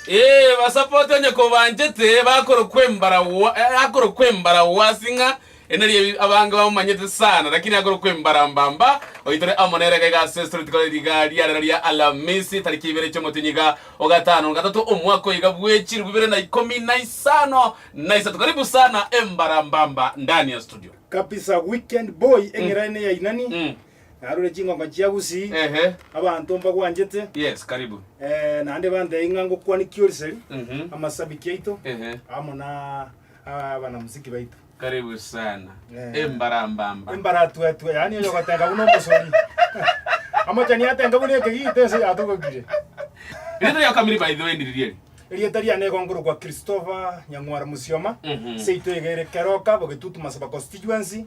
Ee, basapoti onye kobanchete bakorokwa embaragwa, eh, akorokwa embaragwa ase ng'a ere nari ebi- abange bamomanyete sana, lakini akorokwa embaramba mba oitore amo nere iga iga ase street kore riga ria rero ria Alamisi tariki ibere chi'omotinyi iga o gatano na gatato omwaka oiga bw'echiru bibere na ikomi na isano na isato. Karibu sana embaramba mba ndani ya studio. Kabisa weekend boy eng'erane yainani Mm. Narure chingonga chia Gusii, Ehe. abanto mbagwanchete, Yes, karibu. eh, naende bantebia ng'a ngokwania Kiorseri, Mhm. amasabiki aito, Ehe. amo na ah, abanamuziki baito. Karibu sana. Eh. Embarambamba. Embaratuetue, yaani oyo ogotenga buna omosori. Amochani atenga buna ekegita ense yatogokire. Rito ya kamiri by the way ndiririeri. Erieta riane igo nkorokwa Christopher Nyang'war Musioma, Mhm. seito eye ere Keroka, Bogetutu Masaba Constituency.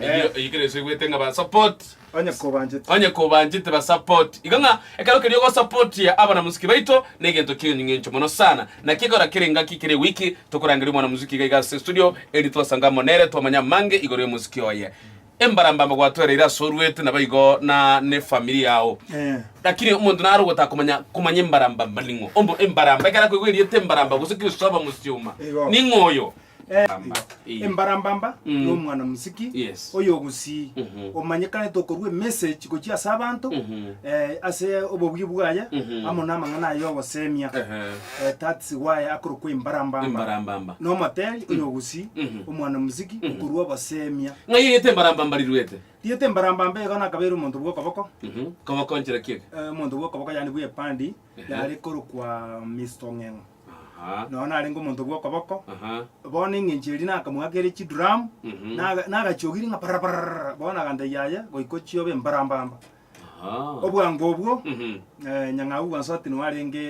Eyio eyio kera ense egwete ng'a ba support. Onye kobanchete. Onye kobanchete ba support. Igo ng'a ekero keria ogo supportia abana muziki baito ne egento kionyu ng'encho mono sana. Naki ekero kera engaki kera ewiki tokorangeria omwana muziki iga iga ase estudio erinde twasanga amo nere twamanye amange igoro ya omuziki oye. Embarambamba gwatoereire ase oruete nabo igo na ne family yao. Eeh. Lakini omonto naro ogotaka komanya komanya embarambamba ning'o. Ombo embaramba ekero akoigwa erieta embaramba gose Christopher Musioma. Igo. Ning'o oyo. Eh, Mbamba. Eh. embarambamba Mm. y'omwana musiki Yes. oyogusii Mhm. omanyekanete okorwa emessage gochia ase abanto Mhm. eh, ase obobuya bwaye Mhm. amo namang'ana aye ogosemia Ehe. Eh, that's why akorokwa embarambamba Embarambamba. nomoteri oyogusii Mhm. omwana musiki okorwa ogosemia Ng'ai eyete embarambamba riruete? riete embarambamba igo nakabeire omonto bw'okoboko Mhm. Koboko nchera kiege. eh, omonto bw'okoboko yani bw'epandi yare korokwa Mr. Ong'eng'o Aha. noyo narenge omonto bw'okoboko Aha. bono eng'encho eria nakamogakere chiduramu Mhm. naga- nagachogiri ng'a parara parara bono agantebia yaya goika ochiobe mbarambamba Aha. obwango obwo Mhm. eh, nyang'au bwansoatini warenge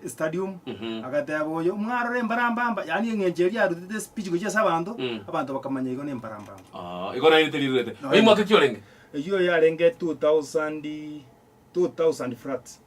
stadium Mhm. agateba oyo mwarora embarambamba yaani eng'encho eria yarutete speech gochia ase abanto Mm. abanto bakamanya igo nembarambamba Ah, igo naye riterirurete. Naye- Rimwaka ki orenge? eyio yarenge 2000 2000 flat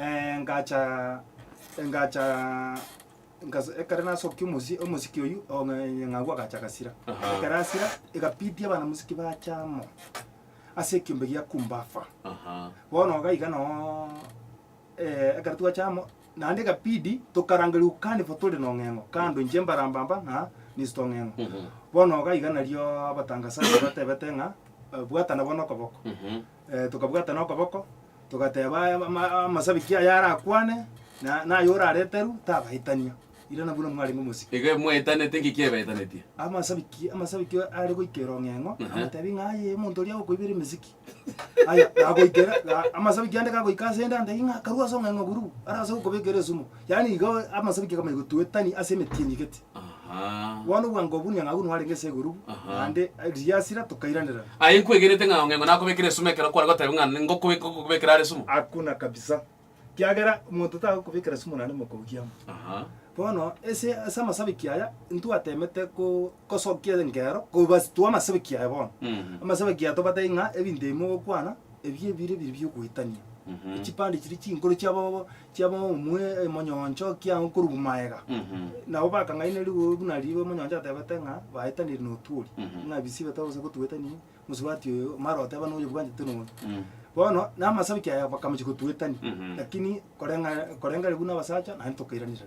Eh, ngacha ngacha ngas- ekero nasokia omosi omosiki oyio o ng'a- nyang'au agacha agasira Aha. ekero asira egapidia abana mosiki bacha amo ase ekiombe gia kumbafa Aha. bono iga iga noo eh, ekero twacha amo naende egapidi tokaranga riukanifo tore nong'eng'o kando inche mbarambamba ng'a Mister ong'eng'o Mhm. bono iga iga nario abatangasaji batebete ng'a bwatana bono okoboko Mhm. tokabwatana okoboko, togateba aya ama amasabiki aya arakwane, na naye orareteru tabaetania, irana buna mwarenge omosike. Iga mwaetanete, ng'iki ebaetanetie? Amasabiki amasabiki are goika erong'eng'o, Aha. abatebi ng'a aye omonto oria agokoibera emesiki. Aya, gagoikera, ga amasabiki ande gagoika asende antebi ng'a akarwa ase ong'eng'o buru, arase gokobekera esumu. Yaani igo amasabi ki akamaiga otuetani ase emeti enyigeti. Bono obwango obwo nyang'au nwarenge ase igoro naende riasira tokairanerana. Aye inkwegenete ng'a Ong'engo nakobekera esumu ekero kware goteba ng'a ngokobeka ngokobekera are esumu? Hakuna kabisa. Kiagera omonto tagokobekera esumu naende mokogi amo. Bono ase ase amasabiki aya ntwatemete ko kosokia engero kobastua amasabiki aya bono. Amasabiki aya tobatebia ng'a ebinto ebi mogokwana ebi ebire biri biogoetania. Echipande chiria chinkoro chiabobo chiabo omwe emonyoncho kiao korwa maega. Nabo bakang'aina rigoro buna ribe omonyoncho atebete ng'a baetanire notuori, ng'a bisibe toro gose gotuetani mosubati oyo, mara oteba noyo bwanchete nonya. Bono namasabiki aya bakamochi gotuetani, lakini koreng'a korengari buna abasacha naende tokairanera.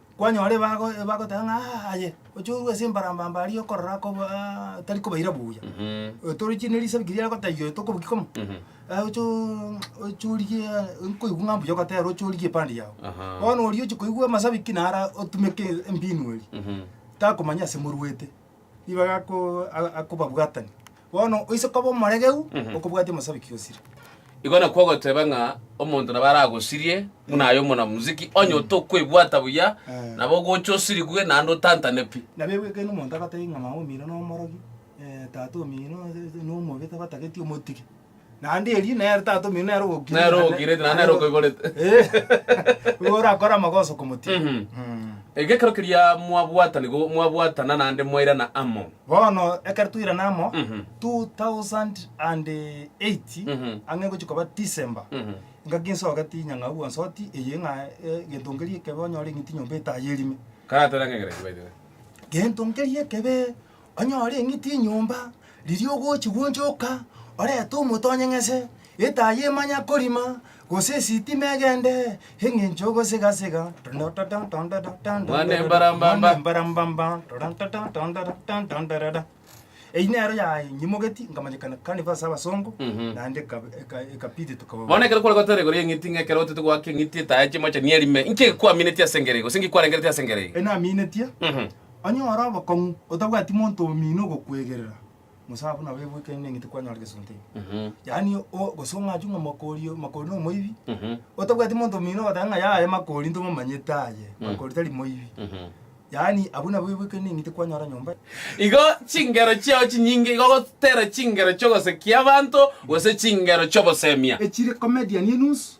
Kwanyora ebago ebagoteba ng'a aa aye, oche orue ase embarambamba aria okorora akobo aa tari kobaira buya. Tori chiri ne risabi keria agotebia oyo tokoboki komo, aye oche oo ng'a oche origie nkoigwa ng'a mbuya ogotera oche origie epande yago. Bono oria ochi koigwa amasabi ki naro a otumeke embinu eria, takomanya ase moruete, nigo agakoo a akobabwatani. Bono oise koba omoregeu okobwatia omosabiki osire. Igo nakwo ogoteba ng'a omonto nabo aragosirie buna aye omonamuziki, onye otokwebwata buya, nabo ogocha osirigwe naende otantane pi. Nabo egweke yaino omonto agotebi ng'a mama omino nomorogi, eh, tata omino nomobe tabatageti omotige. Naende erio nere tatomeirwe nere ogokira Nere ira- ogokirete, naende nere okoiborete. Eh, igo orakore amagoso komotiga Mhm. Mm. Iga ekero keria mwabwata nigo mwabwatana naende mwairana amo bono ekero twairana amo Mhm. 2008 Mhm. ang'e gochia koba december Mhm. ngaki nsoke tinya ng'a agwo nsoti eye ng'a eh, gento nkeria ekebe onyore eng'iti nyomba etayerime Karatera ng'egereria by the way. gento nkeria ekebe Onye ore eng'iti enyomba, riria ogochia gwonchoka, orete omote onyeng'ese, etaa yemanya korima, gose esitima egende, eng'encho ogosegasega tondodotondodotondododo, Mwane mbarambamba. mwane mbarambamba, tondodotondodotondododo. Eyio nero yanyimogeti nkamanyekana carnival ase abasongo, Mhm. naende eka- eka- ekabidi tuka- Bono ekero kware goteba igoro y'eng'iti ng'a ekero otete goaka eng'iti etae chimochani erime, inki egekwaminetie ase engereye, gose inki kwarengereti ase engereye? Enaminetie, Mhm. Onye ore obokong'u, otabwati monto omino ogokwegerera, Musa abwo nabo ebwekeire neng'iti kwanyora gesunte ime. Yaani o, gose ong'achu ng'a Makori oyo, Makori nomoibi, otabwati monto omino ogoteba ng'a yaya Makori ntomomanyete aye, Makori tari moibi. Yaani abwo nabo ebwekeire neng'iti kwanyora nyomba. Igo chingero chiao chinyinge igo gotera chingero chi'ogosekia abanto gose chingero chi'obosemia. Echire comedian enusu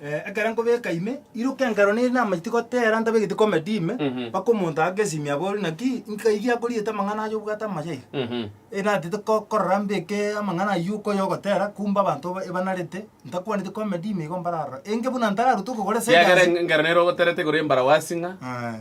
Ekero nkobeka ime, iruka enkero nere namaiti gotera ntabegeti comedy ime, mpaka omonto aake esimi abore naki nkai iga akoriete amang'ana aye obwate amaya iga. Enatete ko- korora mbeke amang'ana aywo uko oyogotera, kumbe abanto ba- ebanarete ntakwaneti comedy ime igo mbararora. Enge buna ntararutwe okogora Kiagera esegasi. enkero nere ogoterete igoro y'embaragwasi ng'a.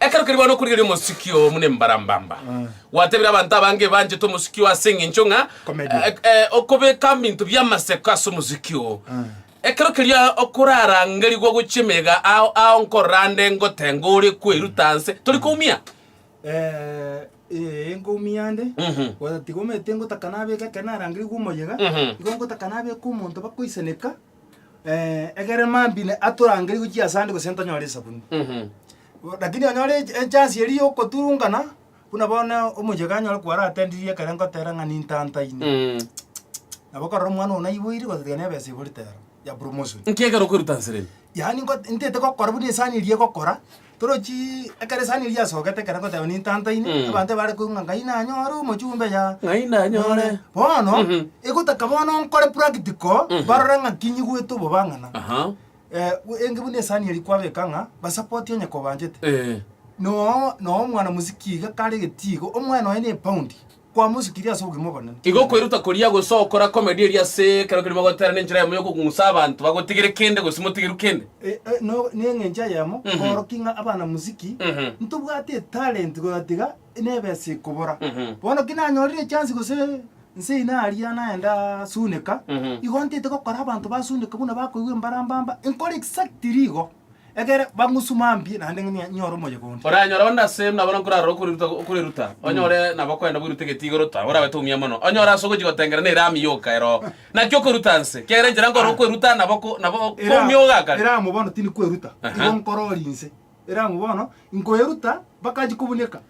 Ekero keri bono okorigereria omosiki oo buna embarambamba, gwatebire abanto abange ebanchete omosiki oo ase eng'encho ng'a Comedy. eh, eh, okobeka binto biamaseko ase omosiki oo. Ekero keria okorarangerigwa gochia emega ao ao nkorora nde ngotenga ore koeruta anse, tori koumia? Eh, eh, nkoumia nde Mhm. Gotiga omanyete ngotaka nabeke ekero narangerigwe omoyega Mhm. igo ngotaka nabeke omonto bakoisaneka eh, ekere mambine atorangerie gochia ase ande gose ntonyore esabuni Mhm. lakini onyore ech- echance eria yokoturungana buna bono omochie kanyore kwaratendirie ekere ngotera ng'a nintantaine Mm. nabo okorora omwana ogo naiboire gose tiga nebesa iborete ero ya promotion Nki ekero okoruta nsereni? yaani ngot- ntete gokora buna esani eria egokora Torochi ekero esani eria yasogete ekero ngoteba nintantaine, Mm. abanto ebare koigwa ng'a Ngai nanyore omochumbe ya Ng'ai nanyore. bono Mhm. egotaka bono nkore practical Mhm. barore ng'a kinyigwete obobang'ana Aha. Eh, enge buna esani eri kwabeka ng'a basapoti onye kobanchete Eh. noo noo omwana mosiki iga karegeti igo omwana oye na epaundi kwamosukirie ase obogima obonene. Igo kweruta koria gose okora komedi eria ase ekero kerimo gotera nenchera yamo yokogung'usa abanto bagotigere kende gose motigeru kende. E, e, no, neng'encho eyemo Mhm. kworokia ng'a abana musiki Mhm. ntobwate etalent goyatiga nebe ase ekobora Mhm. bono ki nanyorire echansi gose nse ina aria naenda suneka Mhm. igo ntete gokora abanto basuneka buna bakoigwa embara mbamba nkore exactly igo Ekere bang'usuma mbi naende nyore omoyega onde. Oranyore onde ase buna bono nkorarora okoreruta, okoreruta, onyore nabo okorenda boirutegete igoro ta, oragoete omia mono, onyore ase ogochia gotengera ne eramu yoka ero. Naki okoruta nse, kiagera enchera nkore okweruta nabo ko, nabo ko Era- omia oga kare. Eramu bono tindi kweruta, Aha. igo nkorori nse. Eramu bono inkoeruta, bakachi kobunieka.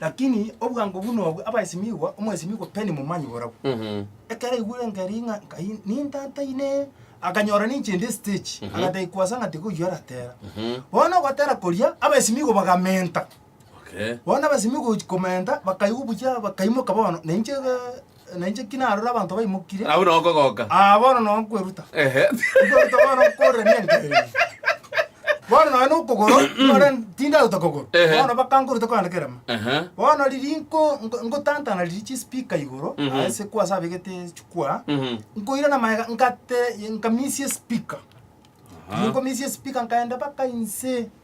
Lakini obwango buna obwo abaesimigwa, omwesimigwa Penny momanyi borabwo. Mhm. Ekero aigure nkeri ng'a nkai nintataine, akanyora ninchende estage, agateba kwasa ng'a tiga oyio aratera. Bono ogotera koria, abaesimigwa bagamenta. Okay. Bono abaesimigwa gochi- komenta, bakaigwa buya bakaimoka bono, nainche eh, Na inche ki narore abanto baimokire, Agwo nao kogoka. aa, bono nao nkweruta. Ehe. Nkweruta bono nkorera nengaki eye. Bono nonya nokogoro, nore tindaruta kogoro. Ehe. Bono bakankoruta kogenda kerema. Ehe. Bono riria nko nko- nkotantana riria chispeaker igoro, Mhm. aa, ase kwase abegete chikwa, Mhm. nkoira na maega nkate nkamisia espeaker. Riria nkomisia espeaker nkaenda mpaka inse.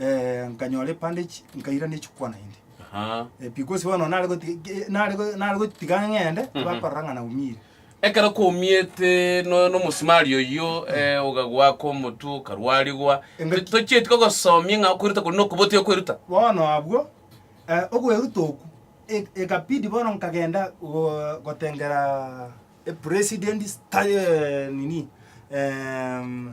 eh, nkanyora epande echi nkairana echikwa naende Aha. Eh, because bono nare goti- ge- nare go- nare gotiga ng'ende tibakorora ng'a naumire ekero kwaumiete no- nomosimari oyio eh, ogagoaka omotwe okarwarigwa Engaki- To- tochieti kogosomia ng'a okweruta kore nokobotia okweruta bono abwo eh, okweruta oku e- ekabidi bono nkagenda go- gotengera epresident sta- eh, nini em,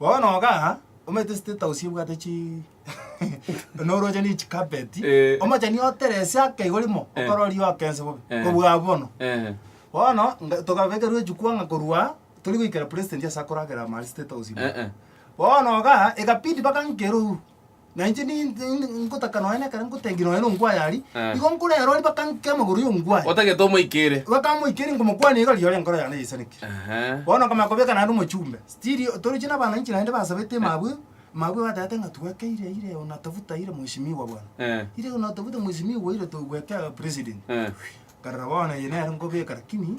Bono iga, omanyete estate house ebwate chi noroche ne chicarpet, Eh. omochani oteresi ake igo rimo, Eh. okorori oke ense bobe, Eh. kobua abwo bono. Eh. Bono, nga- tokabekerwa echukwa ng'a korwa tori goikera president ase akoragera ime aria state house ime. Eh, eh. Bono iga, ekabidi bagankera orwa, Na inche ni- ni- ni- ngotaka nonya nekero ngotengi nonya nongwaye ari Eh. igo nkorero ari bakankia amagoro y'ongwaye otagete omoikere bakamoikeri ngomokwania iga rirorio enkoro yane yaisaneke Ehe. bono nkamanya kobeka naende omochumbe stiri toroche na abana inche naende basabete mabwe mabwe batagete ng'a twekeire ire unatafuta ire mweshimiwa bwana Eh. ire unatafuta mweshimiwa ire togwekea president Eh. karora bono eye nere nkobeka lakini.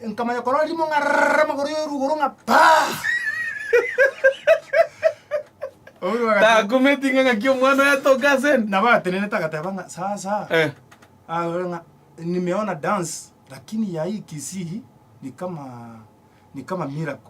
Nkamanya korora rimo ng'arrrr amagoro y'orugoro ng'a paa. Obuya bagati- Takumeti ng'a ng'aki omwana oyo atoke ase ende. nabo atenenete agateba ng'a sasa Eh. awe ng'a nimeona dance lakini ya hii kisii ni kama ni kama miracle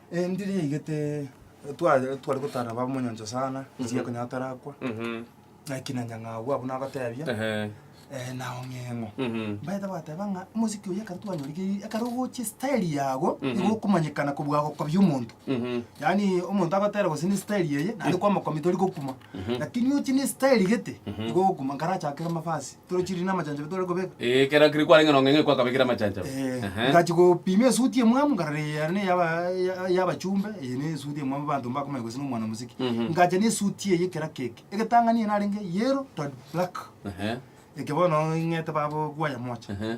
Endiri yaigete tware tware gotara nabo abamonyancho sana, ase ekonyara tarakwa, Mhm. naki na nyang'au abwo nagotebia, Ehe. eh, na ong'eng'o. Mhm. Mbaete bateba ng'a omosiki oyo ekero twanyorigereiri, ekero ogochia style yago, Mhm. nigo okomanyekana kobua agokobia omonto. Mhm. Yaani omonto agotera gose ne style eye, naende kwamokomia tori gokuma. Mhm. Lakini ochie ne style gete, Mhm. nigo ogokuma, nkarachakere mavazi. Tore chiriri na amachancharo tore kobeka. Eh, ekero kiri kwarenge nongo ng'ai kwakabekire amachancharo. Eh, Ehe. ngachi gopima esuti emwamu nkarora eye yare ne yaba- ya- yabachumbe eye ne esuti emwamu abanto mbakomanya gose na omwana omosike Mhm. ngacha ne esuti eye ekera keke egetang'ani eye narenge yellow to black Ehe, eke bono ing'ete babokwaya mocha ehe.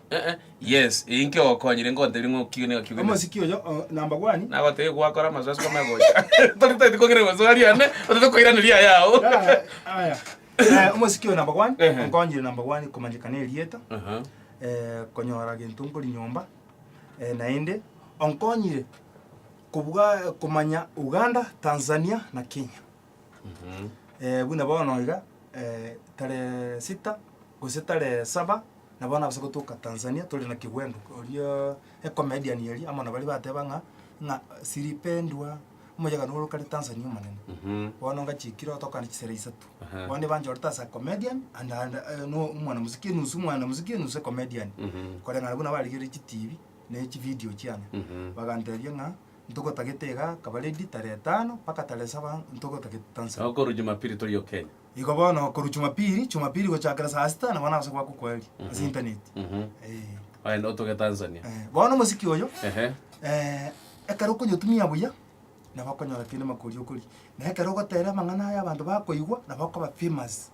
Eh, yes, eye inkio okonyire nkoteria ng'a okio niga kio gene. Omosiki oyo o, namba gwani. Nagotebia gwakora amasoesi kome gocha. Tori taiti kong'ira maswali ane, otete koiraneria aya ao. Aya, aya. Eh, omosiki oyo namba gwani Ehe. onkonyire namba gwani komanyeka na erieta Aha. eh, konyora gento nkori nyomba eh, naende onkonyire kobua komanya Uganda, Tanzania na Kenya. eh, buna bono iga eh, tarehe sita gose tarehe saba nabo bono abase gotoka Tanzania tore na kigwendo oria ecomedian eria amo nabari bateba ng'a ng'a silipendwa omoyegano ore kare Tanzania omonene bono ngachikire otokane chisera isato Aha. bono ebanchorete ase comedian and and eh, no omwana mosike enusu omwana mosike enusu ecomedian koreng'ana buna barigereire chitibi na echividio chiane bagantebia ng'a ntogotagete iga akaba ready tarehe etano mpaka tarehe saba ntogotagete tanzania. Igo korwa Jumapili toriyo Kenya. Igo bono korwa Jumapili, Jumapili gochakera saa sita nabo nase goakwa kweri ase internet. Mhm. Eh. Ogende otoge Tanzania. Eh, bono omosiki oyo Ehe. eh, ekero okonyotumia buya nabo okonyora kende makori okori. Na ekero ogotera amang'ana aya abanto bakoigwa nabo okoba famous.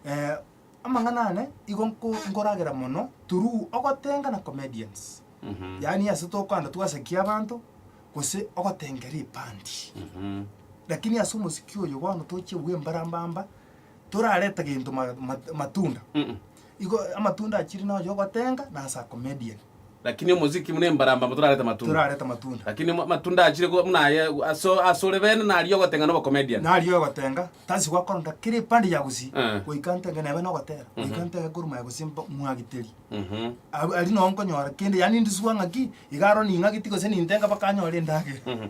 Eh, Amang'ana ane igo nko nkoragera mono through ogotenga na comedians. Yaani ase tokoanda twasakia abanto gose ogotenga ripandi. Lakini ase omosiki oyo bono tochia bwe mbarambamba torareta gento ma- ma- matunda. Igo amatunda achire nonya ogotenga na ase a comedian. Lakini omosiki buna embaramba amo torarete amatunda. torarete amatunda. Lakini mo- amatunda achire ko- buna aye aso asore bene naria ogotenga na obocomedian. Nari ogotenga tasi gwakoronda kera epande ya gusii Eh. goika ntenge nebe nogotera goika ntege Gor Mahia gose mbo- mwagiteri Mhm. Aru- ari noo nkonyora kende yaani ndiswa ng'aki iga aro ning'ageti gose nintenga mpaka anyore endagera Mhm.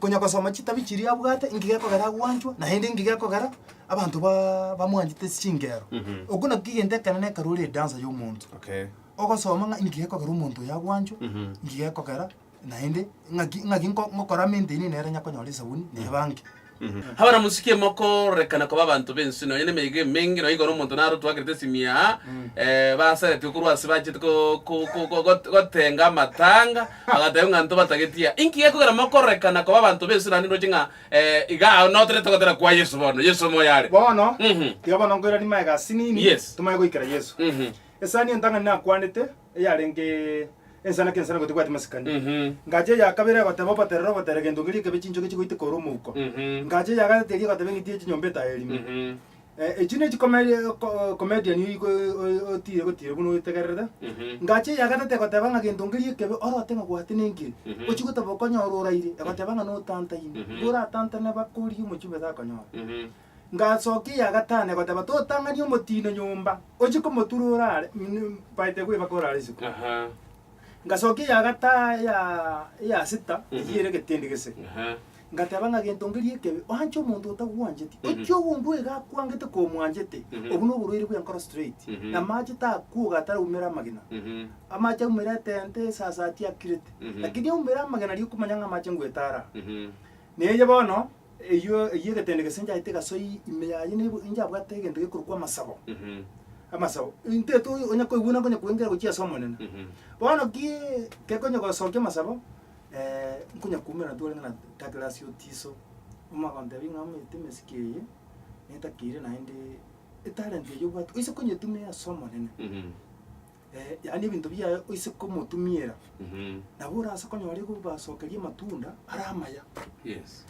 Konya gosoma chitabi chiria abwate, inki gekogera agwanchwe, naende inki gekogera abanto ba- bamwanchete chingero. Mhm. Okwo nakio egento ekenene ekero ore edansa y'omonto. Okay. Ogosoma ng'a inki gekogera omonto oyo agwanchwe, Mhm. inki gekogera naende ng'aki ng'aki nko- ngokora maintain nere onye akonyora esabuni na ebanki. Abana mochikie mokorekana koba abanto b'ense nonya na emeyega emenge, nonya igoro omonto naro twakerete esimia aa, eh, basaretigwe korwa ase bachete ko- ko- ko- ko- got- gotenga amatanga, Agateba, Ng'a intwe batageti aa, inki gekogera mokororekana koba abanto b'Isiraeli ndoche ng'a iga ao noterete gotera kwa Yeso bono, Yeso omo oyare? Bono, tiga bono nkoiranie magega ase nini Yes. tomanye goikera Yeso. Esani entang'ani nakwanete, eyarenge ensana kensana gotibwati masikani. Ngacha eya kabere egoteba, Oboterere, oboterere, gento ngeria ekebe chinchoke chigoiteka ore omouko. Ngacha eya gatato eria egoteba, Eng'iti ye chinyomba etayo erime. Echi ne chikomedian oyi otiire gotiire buna otegererete. Ngache eya gatatu egoteba ng'a gento nkeria ekebe orote ng'a gwate nenkeri. Ochie goteba okonyorwa oraire, egoteba ng'a notantaine. Igo oratantane bakori omochie obe takonyora. Ngasokia eya gatano egoteba totang'ani omotino nyomba, ochie komotura orare by the way mpaka orare isiko. Ngasokia eya gata eya sita eyio ere egetindi gese. Ngateba ng'a gento ngeria ekebe, oanche omonto otagwancheti. Erio ogondua iga akwangete komwanchete, obwo noborwaire bw'enkoro straight. Na amache takuoga ataraumera amagena. Amache aumera etente, esasati akirete. Lakini aumera amagena riria okomanya ng'a amache ngwetara aa. Neye bono, eyio eyio egetende gese nchaete egasoi ime yaye neibu injabwate egento gekorokwa amasabo. Amasabo, intete onya koigwena nkonya koengera gochia as'Omonene. Bono ki kekonye gosokia amasabo, nkonyakumerana twarenge na Douglas Otiso, omo agontebia ng'a omanyete emesike eye, netakeire naende etalent eye obwate oise konyetumia ase Omonene. Mhm. yaani ebinto biaye oise komotumiera, Mhm. nabo orase konyora ekobasokeria amatunda are amaya. Yes.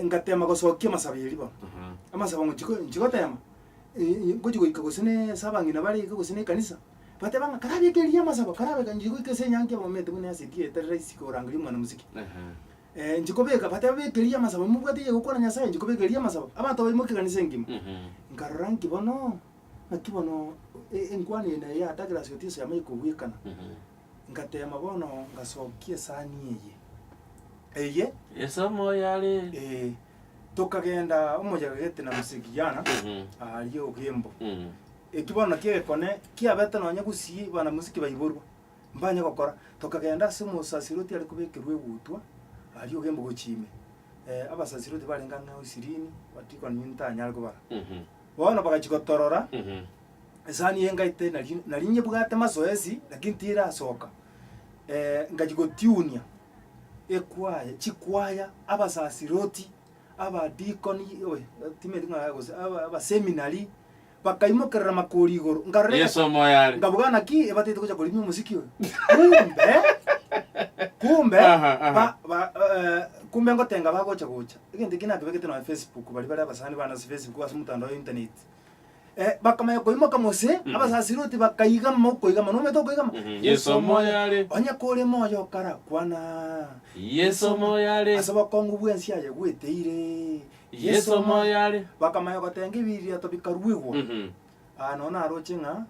ngatema gosokia amasabi eria bono, Aha. amasabi ng'ochi- nchi gotema, ngochi goika gose na ase abang'ina bare iga gose na ekanisa, bateba ng'a karabe eke eria amasabo, karabe kanchire goika ase enyangi ya Bomenete buna ase eria eterera isiko ya oranga y'omwana mosike. Eh, nchi kobeka, bateba beka eria amasabo, nimobwate eria egokwana Nyasae, nchi kobeka eria amasabo. Abanto abaimo ekeganisa engima. Nkarora ng'aki bono, ng'aki bono e- enkwano eye naye yatagera ase Otiso yamanye kobwekana. Ngatema bono ngasokia esani eye, eye, Esomo yare. eh, tokagenda omoyega gete na mosegi Yana, aria Ogembo. Ekiborano ki'egekone kiabete nonya gusii banamosike baiborwa, mbanye gokora. Tokagenda ase omosaserdoti are kobekerwa egutwa aria og'embogochi ime. Abasaserdoti barenge ang'e ao ishirini, badikoni inwe ntanyare kobara. Bono bagachia gotorora, esani eye ngaite nari nari nyebwate masoesi, lakini tirasoka. Ngachia gotiunia ekwaya chikwaya, abasaserdoti, abadikoni, oe timanyeti ng'a gose aba abaseminary, Bakaimokerera makori igoro, nkarora Yesu egesa, omoyo are. ngabuga naki ebataete gocha korimia omosiki oyo. Kumbe, kumbe, Aha, aha. ba, ba, eh, kumbe ngotenga bagocha gocha. Egento eki nakebegete nonya Facebook, baria bare abasani bana ase Facebook ase omotandao wa internet. Eh, bakamanya koimoka mose, abasasiroti bakaigama okoigama, nomanyete okoigama? Mhm. Yesu omoyo are. Onye kore moyo okarakwana. Yesu omoyo are. Ase obokong'u bw'ense aye gweteire, Yeso amo aye are. Bakamanya gotenga ebi riato bikaruigwa. Mhm. Aa nao naroche ng'a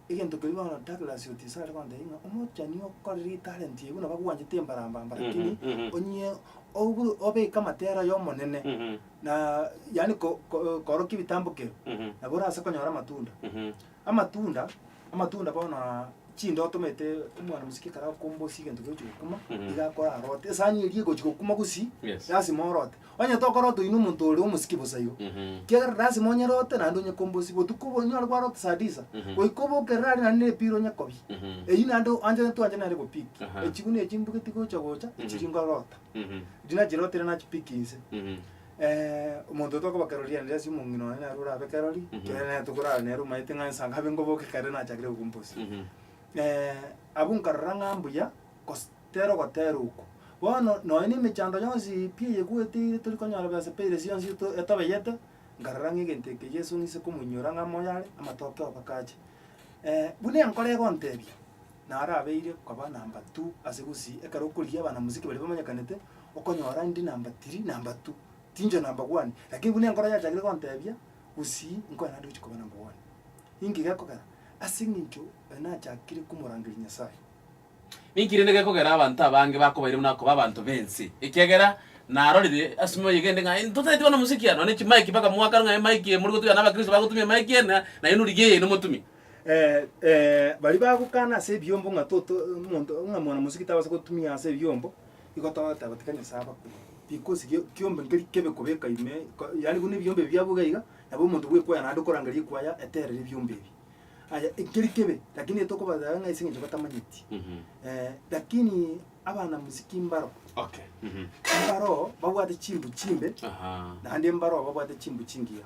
egento keria bono Douglas Otiso are gontebia ng'a omochani okorire etalent eyio buna bagwanchete embarambamba Mhm, lakini mhm. onyie oburu obeke amatera y'Omonene Mhm, na yaani ko- ko- korokia ebitambokero mhm, nabo orase konyora amatunda. mhm. Amatunda, amatunda bono aa chinde otomete omwana mosike ekero akokumba gose egento egochi gokuma, Mhm. iga akore arote, esani eria egochi gokuma gosii, Yes. lasima orote. Onye tokorota oino omonto ore omosike bosa igo, Mhm. kiagera lasima onyerote naende onye komba osie. Botuko obo onyore gwarota saa disa, Mhm. goika oboke erere aria naende na epira onye kobia. Mhm. Eyio naende o- anja twanje nere gopiki. Aha. Echiguni echi mbugeti gocha gocha, echiria Mhm. nkorota. Mhm. Riria nachirotire nachipiki inse. Mhm. Eh, omonto oyo tokoba kerori ande ase omong'ina one naro orabe kerori, Mhm. kere nere tokorara nere omanyete ng'a ensa nkabe nkoboke kare nachakire gokumbosia. Mhm. Eh, abwo nkarora ng'a mbuya gose tero gotera okwo. Bono nonya na emechando yonsi pi eyegweteire tori konyora besa pi eresi yonsi eto- etobeyete, nkarora ng'a egento eke Yeso ng'ise komoinyora ng'a moyo are, amatoke obakache. Eh, buna enkoro egotebia, Narabeire koba namba tu ase gusii ekero okorigia abanamuziki baria bamanyekanete okonyora ndi namba tiri namba tu tincho namba wani lakini buna enkoro yachakire gontebia gusii nkonya naende gochia koba namba wani. Inki gekogera? Ase eng'encho oyo nachakire komorangeria Nyasaye. Ninki rende gekogera abanto abange bakobaire buna akoba abanto b'ense? Ekiagera narorire ase emioyo eye kende ng'a totaeti banamuziki aa nonye ne chimaiki mpaka mwakanu ng'a emaiki eye mori gotugena na abakristo bagotumia emaiki eye na nainwe rigia eye nomotumie. Eh, eh, baria bagokana ase ebiombo ng'a toto omonto ng'a mwanamosio tabasa gotumia ase ebiombo, igo togoteba tika Nyasae abakwe, because gio kiombe nkeri kebe kobeka ime ko yaani buna ebiombe ebi biabo iga iga, nabo omonto bwekwaya naende okorangeria ekwaya eterire ebiombe ebi. Aya nkeri kebe, lakini etokobasaba ng'a ase eng'encho batamanyeti. Mhm. Eh, lakini abanamosiki mbaro, Okay. Mhm. mbaro babwate chimbu chimbe, Aha. naende mbaro babwate chimbu chingiya.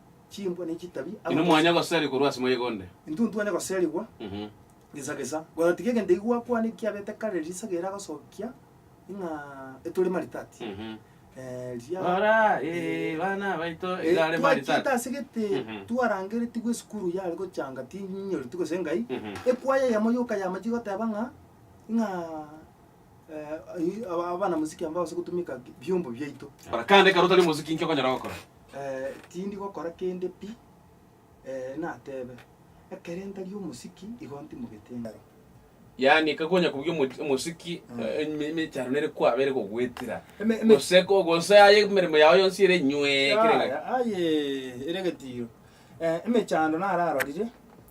chimbwa ne chitabi, Inwe abatosi, mwanya goseria korwa ase moyega onde. intwe ntwanya goserigwa Mhm. gesa gesa. Gotatiga egento eki gwakwana ekiabete kare risaga ere agosokia ng'a etore maritati. Mhm. Eh, riria Rora, eh, bana baito Eh, igare twachete maritati. ase gete Mhm. twarangeretigwe esukuru yare gochanga tinyinyoritu gose engai Mhm. ekwaya yamo yoka yamachi goteba ng'a ng'a eh, aba- abana mosiki amba ase gotumeka biombo biaito. Kora kande ekero otari omosiki inki okonyara gokora? Eh, tindi gokora kende pi, eh, natebe, ekere ntari omosiki igo ntimogete engaro. Yaani ekero konya kobugia omo- omosiki eh, eme- emechando nere kwaba ere gogwetera Eme- eme- gose ko- gose aye emeremo yao yonsi ere nywee kera egaki. Yaya, aye, ere egetiro. Eh, emechando nararorire,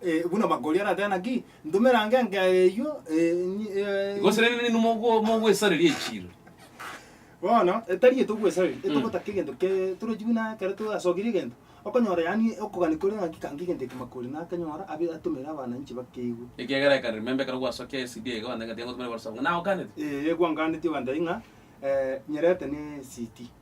Eh, buna bakori aratebe naki, Ntomera ange enkeya eyio, eh, ni- eh, Igo ase rende ninwe mogwe- mogwesareria echiiro. Bono etari eyo togwesareria, Mm. etogotaka egento ke- torochi buna ekero torasokirie egento, okonyora yaani okogania kore ng'aki kange egento eke makori nakanyora abe atomere abananchi bakeigue. Ekiagera I can remember ekero gwasokia eCD iga gwantebi ng'a tiga ngotumera whatsapp ng'a nagokanete. Ee, gwanganeti ogantebia ng'a nyerete ne eCD.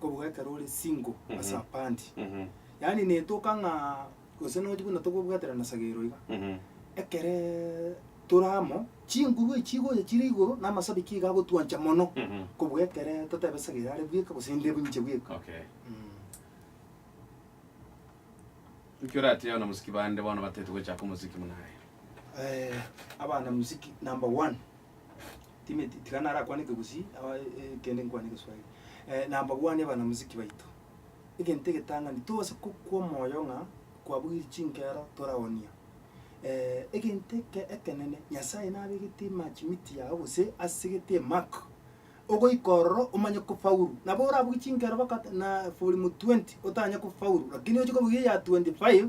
kobua ekero ore single Mhm. ase apandi Mhm. yaani netoka ng'a gose nonya buna tokobwaterana sagero iga Mhm. ekeree tore amo chinguru echi chigocha chire igoro na amasabi ki iga agotwancha mono Mhm. kobua ekere totebe sagere are bweka gose inde inche bweka Okay. Mm. Nki oratebi abanamuziki bande bono batete gochaka omuziki buna aye? Eh, abana muziki number one Timeti, tiga narakwane Ekegusii, aah eh, kende nkwane Egeswahili. Eh, nambagwanie banamuziki baito. Egento egetang'ani, tose gokwa omoyo ng'a kwabugiri chinkero toraonia. egento eke ekenene, Nyasaye nabegete emachimiti yago gose asegete emark, ogoika ororo omanye kofaulu. Nabo orabuge chinkero baka na form twenty otanye kofaulu, lakini oche kobuga eya twenty five.